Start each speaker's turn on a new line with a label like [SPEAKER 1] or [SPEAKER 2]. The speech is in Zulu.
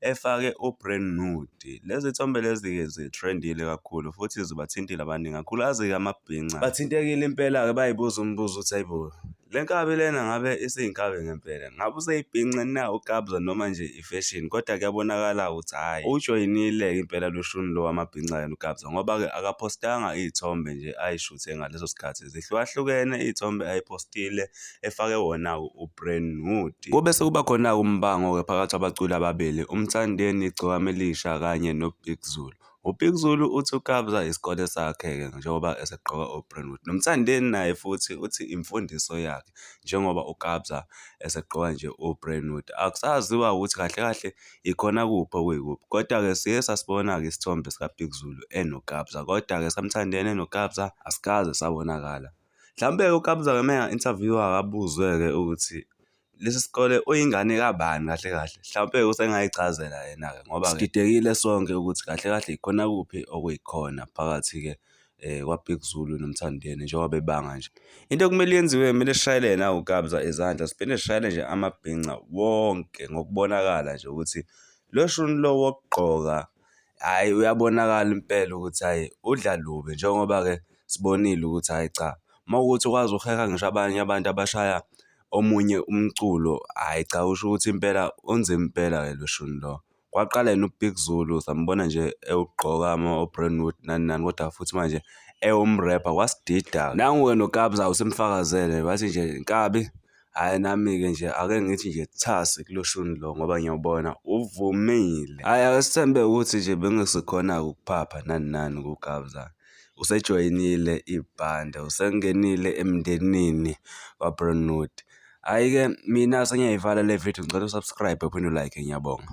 [SPEAKER 1] efake uBrand Nude. Lezi thombe lezi-ke zithrendile kakhulu futhi zibathintile abaningi kakhulukazi-ke amabhinca. Bathintekile impela-ke bayibuza umbuzo ukuthi ayibo le nkabi lena ngabe isiyinkabi ngempela ngabe useyibhince na ukabza noma nje ifeshini kodwa kuyabonakala ukuthi hhayi ujoyinile-ke impela lushuni lo wamabhinca yena ukabza ngoba-ke akaphostanga iy'thombe nje ayishuthe ngaleso sikhathi zihlukahlukene iy'thombe ayipostile efake wona uBrand New Day. Kube sekuba khona-ke umbango-ke phakathi kwabaculi ababili uMthandeni Gcokama Elisha kanye noBig Zulu. UBig Zulu uthi uKabza isikole sakhe-ke njengoba esegqoka uBrandwood. NoMthandeni naye futhi uthi imfundiso yakhe njengoba uKabza esegqoka nje uBrandwood. Akusaziwa ukuthi kahle kahle ikhona kuphi okuyikuphi. Kodwa-ke siye sasibona-ke isithombe sikaBig Zulu enoKabza. Kodwa-ke saMthandeni enoKabza asikaze sabonakala. Mhlawumbe-ke uKabza uma enga-inthavyuwa akabuzwe-ke ukuthi lesi sikole uyingane kabani kahle kahle. Mhlawumpe usengayichazela yena-ke ngoba sididekile sonke ukuthi kahle kahle yikhona kuphi okuyikhona phakathi-ke eh kwaBig Zulu noMthandeni njengoba bebanga nje. Into okumele yenziwe kumele sishayele yena uKabza izandla siphinde sishayele nje amabhinca wonke ngokubonakala nje ukuthi lo shuni lo wokugqoka hhayi uyabonakala impela ukuthi hhayi udla lubi njengoba-ke sibonile ukuthi hhayi cha uma kuwukuthi ukwazi ukuheha ngisho abanye abantu abashaya omunye umculo, hhayi cha kusho ukuthi impela unzima impela-ke lo shuni lo. Kwaqala yena uBig Zulu sambona nje ewugqoka ama-Brentwood nani nani kodwa futhi manje ewumrepha kwasidida-ke. Nangu-ke noKabza usemfakazele wathi nje nkabi. Hhayi nami-ke nje ake ngithi nje thasi kuloshuni lo ngoba ngiyawubona uvumile. Hhayi asithembe ukuthi nje bengesikhona-ke ukuphapha nani nani kuGabza. Usejoyinile ibhande, usengenile emndenini waBrownwood. Hhayi-ke mina sengiyayivala le vidiyo ngicela u-subscribe uphinde u-like-e ngiyabonga.